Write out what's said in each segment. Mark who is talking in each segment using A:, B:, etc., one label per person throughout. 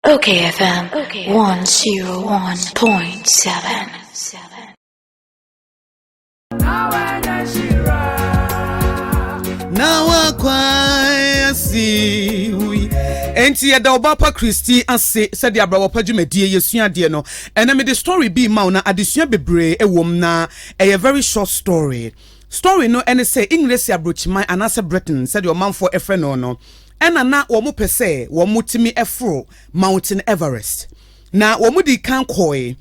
A: Okay FM
B: 101.7. Now I quite see nti yɛda ɔba pa kristi ase sɛde abrabɔ pa dwumadie yɛsua adeɛ no ɛnɛ mede story bi ma wo na adesua bebree ɛwɔ mu na ɛyɛ very short story story no ɛne sɛ english aburokyiman anaasɛ britain sɛdeɛ ɔmanfoɔ ɛfrɛ no no Ɛnna na wɔpɛ sɛ wɔtumi foro Mountain Everest, na wɔdii kan kɔe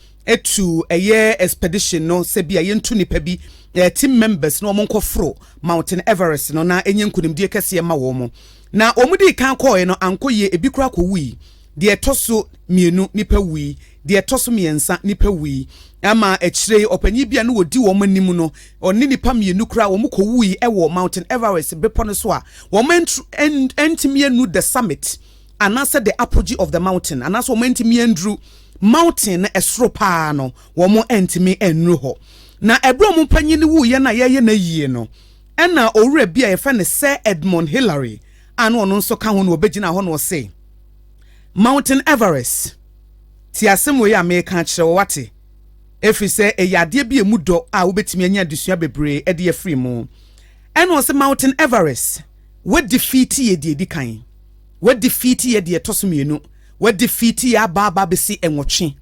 B: tuu ɛyɛ expedition no sɛ bi a yɛntu nnipa bi, eh, team members na wɔnkɔforo Mountain Everest no na ɛnyɛ nkonimdie kɛseɛ ma wɔn. Na wɔdii kan kɔe no ankɔ yie, ebi koraa kɔwui. Deɛ ɛtɔ so mmienu, nnipa wui. Deɛ ɛtɔ so mmiɛnsa, nnipa wui. Ɛma akyire yi, ɔpanin bi a na ɔdi wɔn anim no, ɔne nnipa mmienu koraa, wɔkɔwuui wɔ Mountain Everest bepɔ no so a wɔantru, antumi annu the summit, anaasɛ the apogee of the mountain, anaasɛ wɔn antumi anduru mountain no ɛsoro paa no, wɔn antumi annuru hɔ. Na ɛberɛ wɔn panin no wuiɛ no a yɛreyɛ no ayie no, ɛna owura bi a yɛfrɛ no Sir Edmund Hillary a na ɔno nso ka ho no, ɔbɛgyinaa hɔ na ɔse, Mountain Everest, Tie asɛm wei a mereka akyerɛ wo, woate? Ɛfiri sɛ ɛyɛ adeɛ bi a ɛmu dɔ a wobɛtumi anya adesua bebree de afiri mu. Ɛna ɔse, Mountain Everest, woadifiiti yɛ deɛ ɛdi kan, woadifiiti yɛ deɛ ɛtɔ so mmienu, woadifiiti yɛ aba aba bɛsi nwɔtwe.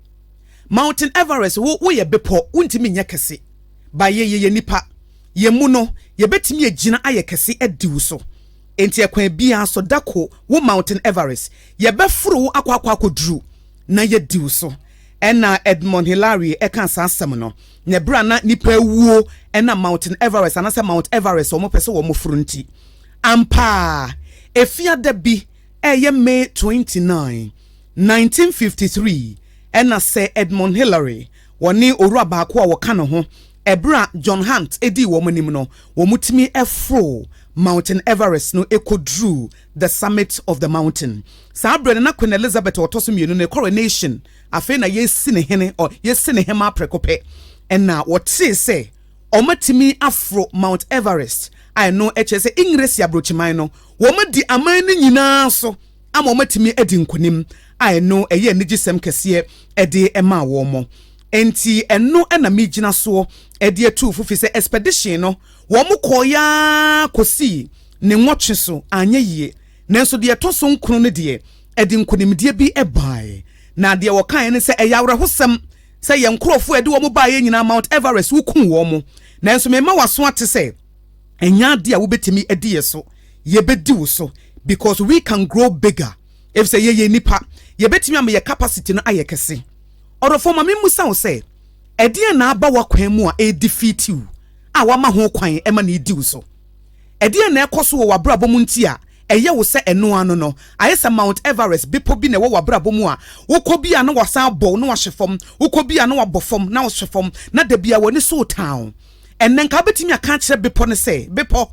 B: Mountain Everest, wo, woyɛ bepɔ, wontumi nyɛ kɛse. But yɛ, yɛyɛ nnipa. Yɛn mu no, yɛbɛtumi agyina ayɛ kɛse adi wo so. Enti ɛkwan biara so, da ko wo Mountain Everest. Yɛbɛforo wo akɔ akɔ akɔduru na yɛadi wo so. Ɛnna Edmond Hilarie ɛkaa saa asɛm no. Na ɛberɛ a na nnipa awuo ɛnam Mountain Everest anaasɛ Mount Everest a wɔpɛ sɛ wɔforo nti. Ampa ara, Efiada bi, ɛyɛ May 29, 1953, ɛnna Sir Edmond Hillary Wɔne owura baako a wɔka ne ho bere a John Hunt dii wɔn anim no, wɔtumi foroo Mountain Everest no koduruu the summit of the mountain. Saa bere no, na Queen Elizabeth a ɔtɔ so mmienu no, ne coronation, afei na yɛresi ne hene, ɔ, yɛresi ne hemmaa prɛko pɛ. Ɛna wɔtee sɛ wɔatumi aforo Mount Everest, a ɛno kyerɛ sɛ Engiresi aburokyiman no, wɔadi aman no nyinaa so. ama wɔatumi adi nkonim a ɛno ɛyɛ anigyesɛm kɛseɛ de maa wɔn. Enti ɛno na megyina soɔ de atu fo fi sɛ expedition no wɔkɔeɛ ara kɔsii ne nwɔtwe so anyɛ yie nanso deɛ ɛtɔ so nkron no deɛ ɛde nkonimdie bi baeɛ na deɛ wɔkaeɛ ne sɛ ɛyɛ awerɛhosɛm sɛ yɛn nkurɔfoɔ a ɛde wɔn baeɛ nyinaa Mount Everest wokuu wɔn nanso mema w'aso ate sɛ ɛnyɛ ade a wobɛtumi adi yɛ so yɛbɛdi wo so because we can grow bigger efisɛ yɛyɛ nnipa yɛbɛtumi ama yɛ capacity no ayɛ kɛse ɔdɔfoɔ ma memmusa wo sɛ ɛdeɛn na aba w'akwan mu a ɛredi fiitiw a wama ho kwan ɛma ne di wo so ɛdeɛn na ɛkɔ so wɔ w'abrabɔ mu nti a ɛyɛ wo sɛ ɛno ano no ayɛ sɛ Mount Everest bepɔ bi na ɛwɔ w'abrabɔ mu a wokɔ bi a na wasan abɔ na wahye fam wokɔ bi a na wabɔ fam na wahye fam na da bi a w'ani so retaaw Ɛnnɛ, nka wobɛtumi aka akyerɛ bepɔ no sɛ, Bepɔ,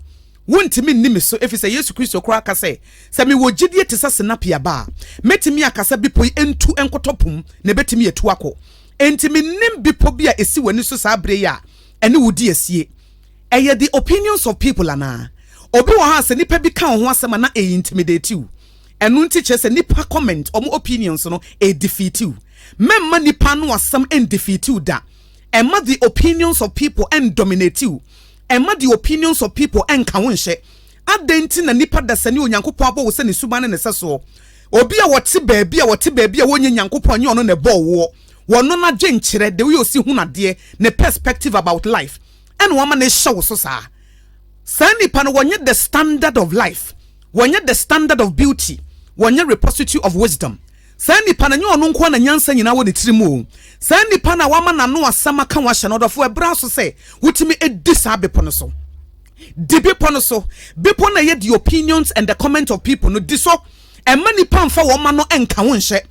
B: wontumi nni me so, efisɛ Yesu Kristo koraa ka sɛ, sɛ mewɔ gyidie te sɛ sinapi aba a, mɛtumi aka sɛ bepɔ yi ntu nkɔtɔ po mu, na ɛbɛtumi atu akɔ. Enti mennim bepɔ bi a ɛsi w'ani so saa berɛ yi a ɛne wo di asie. Ɛyɛ the opinions of people anaa? Obi wɔ hɔ a sɛ nnipa bi ka wo ho asɛm a na ɛ intimidate wo. Ɛno nti kyerɛ sɛ nnipa comment, wɔn opinions no, ɛ defeat wo. Mɛmma nnipa ano asɛm ɛ defeat wo da. Mma the opinions of people nndominate wo. Mma the opinions of people nnka wo nhyɛ. Adɛn nti na nnipa dasani a Onyankopɔn abɔ wo sɛ ne suban ne ne sɛsoɔ? Obi a ɔte baabi a ɔte baabi a ɔnyɛ Nyankopɔn ɛnyɛ ɔno na ɛbɔɔ woɔ. Ɔno n'adwenkyerɛ, the way ɔsi hunu adeɛ, ne perspective about life, ɛna wama no rehyɛ wo so saa. Saa nnipa no wɔnyɛ the standard of life, wɔnyɛ the standard of beauty, wɔnyɛ repository of wisdom. Saa nipa no, ɛnyɛ ɔno nko ara na nyansa nyinaa wɔ ne tirim o. Saa nipa no a wama n'ano asɛm aka wo ahyɛ no ɔdɔfo abira so sɛ wotumi di saa bepɔ no so. Di bepɔ no so. Bepɔ no a ɛyɛ the opinions and the comments of people no, di so. Ɛmma nipa mfa wɔn ma no nka wo nhyɛ.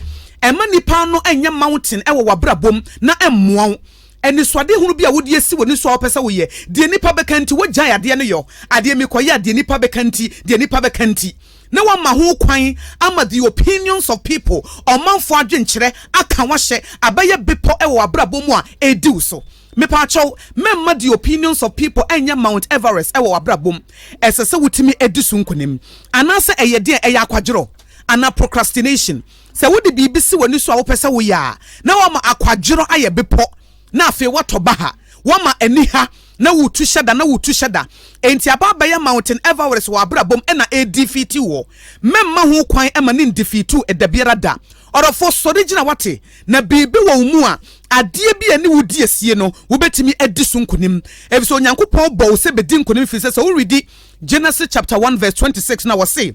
B: Ɛmma nipa no nyɛ mountain wɔ w'abrabɔ mu na ɛmmoa wo. Anisoadehunu bi a wode asi w'ani so a wopɛ sɛ woyɛ, deɛ nnipa bɛka nti wogyae adeɛ no yɛ o. Adeɛ mekɔyɛ a deɛ nnipa bɛka nti, deɛ nnipa bɛka nti. na wɔama ho kwan ama the opinions of people, ɔmanfo adwenkyerɛ, aka wo ahyɛ, abɛyɛ bepɔ wɔ w'abrabɔ mu a ɛredi wo so. Mepaakyɛw, mɛmma the opinions of people ɛnyɛ Mount Everest wɔ w'abrabɔ mu. Ɛsɛ sɛ wotumi di so nkonim. Anaasɛ ɛyɛ deɛn? Ɛyɛ akwadworɔ anaa procrastination. Sɛ wode biribi si w'ani so a wopɛ sɛ woyɛ a, na woama akwadworɔ ayɛ bepɔ, na afei woatɔ baha, woama aniha, Na wotu hyɛ da, na wotu hyɛ da. Enti aba abɛyɛ Mountain Everest wɔ abrabɔ mu na ɛredefeatiw wo. Mɛmma ho kwan mma no nndefeatiw wo da biara da. Ɔdɔfo, sɔre gyina, woate? Na biribi wɔ wo mu a, adeɛ bi a ɛne wo di asie no, wobɛtumi adi so nkonim. Efisɛ Onyankopɔn bɔɔ wo sɛ bɛdi nkonim, efisɛ sɛ woredi Genesis chapter one verse twenty six no a, ɔse,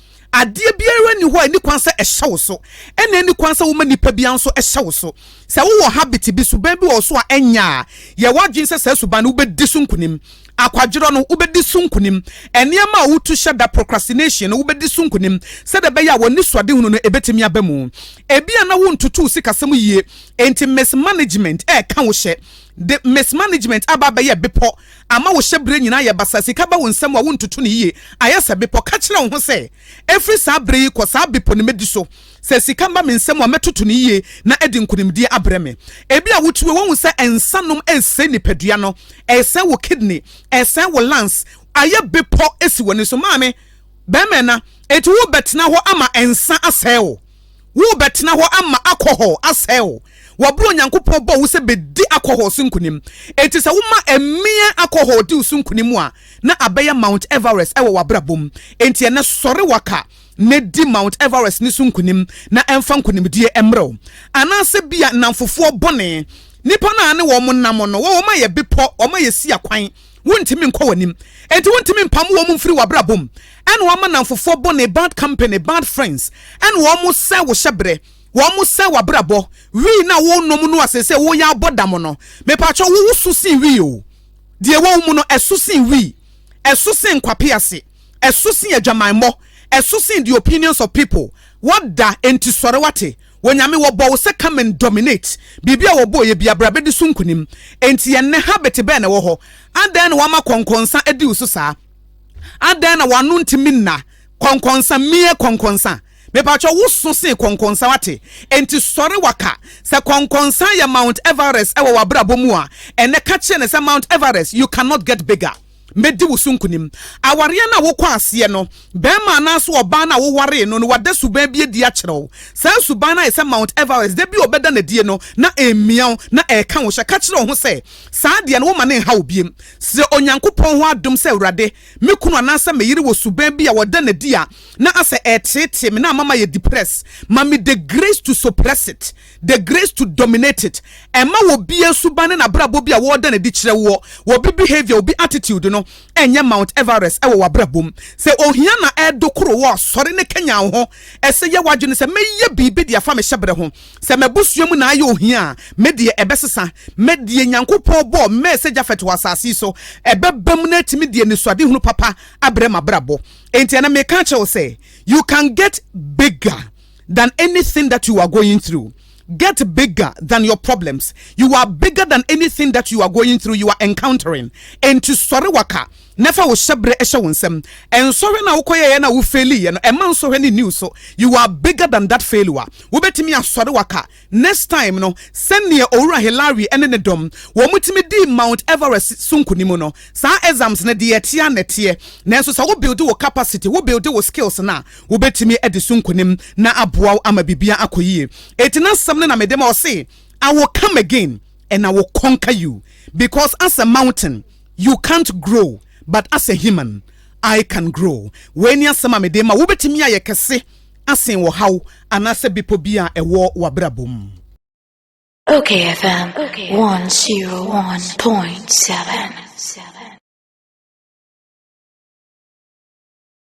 B: Adeɛ biara nni hɔ a ɛni kwan sɛ ɛhyɛ wo so. Ɛna ɛni kwan sɛ woma nipa biara nso hyɛ wo so. Sɛ wowɔ habit bi, suban bi wɔ wo so a ɛnyɛ a, yɛ w'adwene sɛ saa suban no wobɛdi so nkunim. Akwadworɔ no, wobɛdi so nkunim. Nneɛma a wotu hyɛ da, procrastination, no, wobɛdi so nkunim sɛdeɛ ɛbɛyɛ a w'anisoadehunu no ɛbɛtumi aba mu. Ebia na wontoto wo sikasɛm yie, enti mismanagement reka wo hyɛ. De mismanagement aba abɛyɛ bepɔ ama wo hyɛberɛ nyinaa ayɛ basaa, sika ba wo nsam a wontoto no yie, ayɛ sɛ bepɔ. Ka kyerɛ wo ho sɛ, 'Ɛfiri saa berɛ yi kɔ, saa bepɔ no mɛdi so. Sɛ sika ba me nsam a, mɛtoto no yie na adi nkonimdie abrɛ me. Ebia wote wei woahu sɛ nsa nom resɛe nipadua no, ɛresɛe wo kidney, ɛresɛe wo lungs, ayɛ bepɔ si w'ani so. Maame, barima ɛna, enti worebɛtena hɔ ama nsa asɛe wo? Worebɛtena hɔ ama alcohol asɛe wo wɔ bere a Onyankopɔn bɔɔ wo sɛ bedi alcohol so nkonim. Enti sɛ woma mmea alcohol di wo so nkonim a, na abɛyɛ Mount Everest wɔ w'abrabɔ mu. Enti ɛnnɛ, sɔre waka na di Mount Everest no so nkonim, na ɛmfa nkonimdie mmrɛ wo. Anaasɛ ebia nnamfofoɔ bɔne, nnipa no a ne wɔn nam no, wɔn ayɛ bepɔ, wɔn ayɛ siakwan, Wontumi nkɔ w'anim. Enti wontumi mpam wɔn mfiri w'abrabɔ mu. Ɛna wɔama nnamfofoɔ bɔne, bad company, bad friends, ɛna wɔsɛe wo hyɛberɛ. Wɔsɛe w'abrabɔ. Wii no a worenom no a seesei woreyɛ abɔ dam no, mepakyɛw wo, woso sen wii o. Deɛ ɛwɔ wo mu no, ɛso sen wii. Ɛso sen nkwapease. Ɛso sen adwamammɔ. Ɛso sen the opinions of people. Woada, enti sɔre, woate? Wɔ Nyame wɔbɔ wo sɛ come and dominate Biribi a wɔbɔɔeɛ biara bra bɛdi so nkonim Enti ɛnnɛ habit bɛn na ɛwɔ hɔ Adɛn na wama kɔnkɔnsa adi wo so saa Adɛn na w'ano ntumi nna kɔnkɔnsa Mie kɔnkɔnsa Mepakyɛw wo so sen kɔnkɔnsa wate Enti sɔre waka Sɛ kɔnkɔnsa yɛ Mount Everest wɔ w'abrabɔ mu a Ɛnnɛ ka kyerɛ no sɛ Mount Everest you cannot get bigger Mɛdi wo so nkunim. Awareɛ no a wokɔ aseɛ no, barima anaasɛ ɔbaa no a wowaree no no, wada suban bi adi akyerɛ wo. Saa suban no ayɛ sɛ Mount Everest, da bi a ɔbɛda no adie no, na ɛremmia wo, na ɛreka wo hyɛ. Ka kyerɛ wo ho sɛ, Saa deɛ no, womma no nnha wo biom. Srɛ Onyankopɔn hɔ adom sɛ, Awurade, me kunu anaasɛ me yere wɔ suban bi a wɔda no adi a na asɛ ɛreteetee me na ama mayɛ depressed. Ma me the grace to suppress it. The Grace to Dominate It, Ɛmma obiara suban ne n'abrabɔ bi a wɔda no adi kyerɛ woɔ, obi behavior, obi attitude no, ɛnyɛ Mount Everest wɔ w'abrabɔ mu. Sɛ ohia na ɛredokoro wo a, sɔre na kanyan wo ho. Ɛsɛ yɛ w'adwene sɛ, Mɛyɛ biribi de afa me hyɛberɛ ho. Sɛ m'abusua mu na ayɛ ohia a, me deɛ ɛbɛsesa. Me deɛ Nyankopɔn bɔɔ mmɛɛ sɛ Japhet wɔ asase yi so, ɛbɛbam na atumi de anisoadehunu papa abrɛ m'abrabɔ. Enti ɛnnɛ meka akyerɛ wo sɛ, You can get bigger. than anything that you are going through get bigger than your problems you are bigger than anything that you are going through you are encountering enti sɔre waka na fa wo hyɛbrɛ hyɛ wo nsam nsɔhwɛ na wokɔyɛyɛ na wo failure no ɛma nsɔhwɛ ne new so you are bigger than that failure wobɛtumi asɔre waka Next time no, sɛdeɛ Owura Hillary ne ne dɔm wɔn tumi dii Mount Everest so nkunim no, saa exams no deɛ ɛteɛ na ɛteɛ, nanso sɛ wo build wo capacity, wo build wo skills no a, wobɛtumi adi so nkunim na aboa wo ama biribiara akɔ yie. Enti n'asɛm no na mede ma, ɔse, I will come again and I will conquer you because as a mountain you can't grow but as a human I can grow. Wei ne asɛm a mede ma wo, wobɛtumi ayɛ kɛse asen wɔ haw anaasɛ bepɔ bi a ɛwɔ w'abrabɔ mu.
A: Okay FM 101.7.